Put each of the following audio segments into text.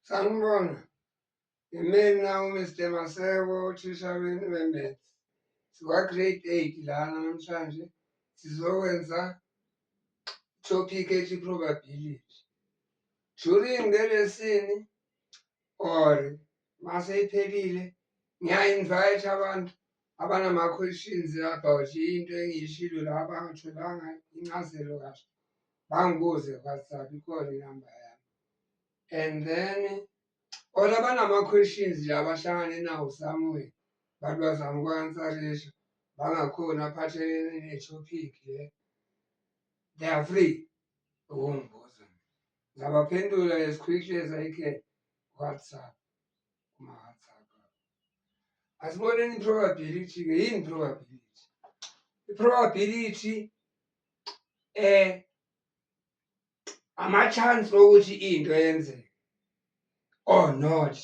Sanibona, yimina uMr Maseko, uthisha wenu weMaths. Sikwa-grade eight lana namhlanje sizokwenza topic ethi probability. During le lesini or maseyiphelile ngiya-invite abantu abanama-questions about into engiyishilo la bangatholanga incazelo kahle bangibuze whatsapp ikhona inamba yami and then or abanama-questions la bahlangane nawo somewhere bantu bazama ukwansarisha bangakhoni aphathelene ne-topic le they are free ukungibuza ngabaphendula as quickly as i can whatsapp asiboneni i-probability ke yini i-probability i-probability eh ama-chance okuthi into yenzeke or not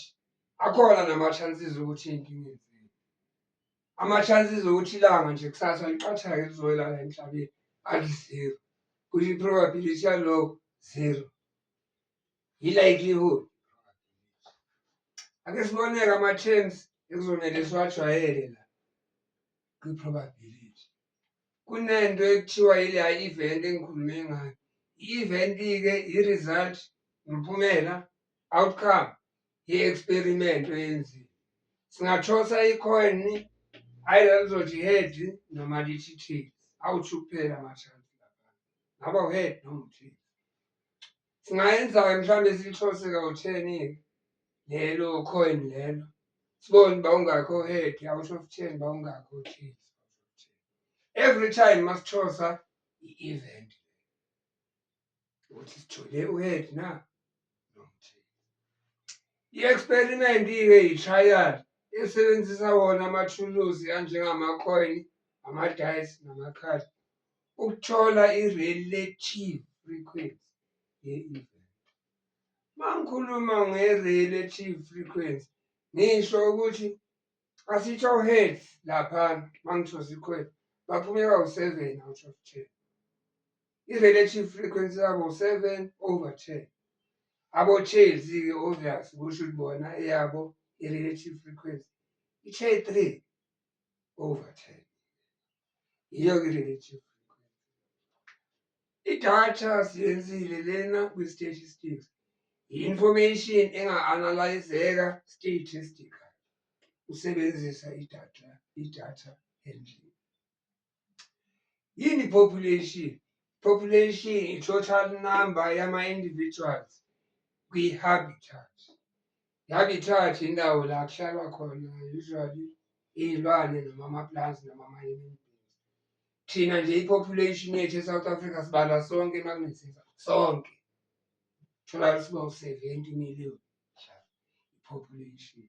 akhona nama-chances ukuthi into ingenzeki ama-chances okuthi ilanga nje kusasa liqathake lizoyelala emhlabeni ali-zero kusho i-probability yaloko zero yi-likelihood ake siboneke ama-terms ekuzomele siwajwayele la kwi-probability kunento ekuthiwa yileya event engikhulume ngayo i-event-ke i-result nomphumela outcome ye-experiment oyenziwe singathosa i-coin ayila lizothi head noma lithi tail awuthi ukuphela ama-chance lapha ngaba uhead noma uthile Singayenza-ke mhlawumbe silithose kawu-ten-ke lelo coin lelo sibone uba ungakho head out of ten uba ungakho ten every time masithosa i-event ukuthi sithole uhead na i-experiment-ke yi-trial esebenzisa wona amathuluzi anjengamacoin amadayisi namakhadi ukuthola i-relative frequency ye-event. Uma ngikhuluma nge-relative frequency ngisho ukuthi asitsho hertz laphana uma ngisho sikhwela baphumeka u-seven out of ten i-relative frequency yabo u-seven over ten abo-chelsea-ke obvious kusho ukuthi bona eyabo i-relative frequency ithe three over ten yiyo ke le native idatha siyenzile lena kwi-statistics yi-information enga-analyzeka statistical usebenzisa idatha idatha endlini yini population population i-total number yama-individuals kwi-habitat Yangithatha indawo la kuhlalwa khona usually iy'lwane noma amapulazi noma amanye thina nje i-population yethu e-south africa sibala sonke emakunethisa sonke thola siba u-seventy million population.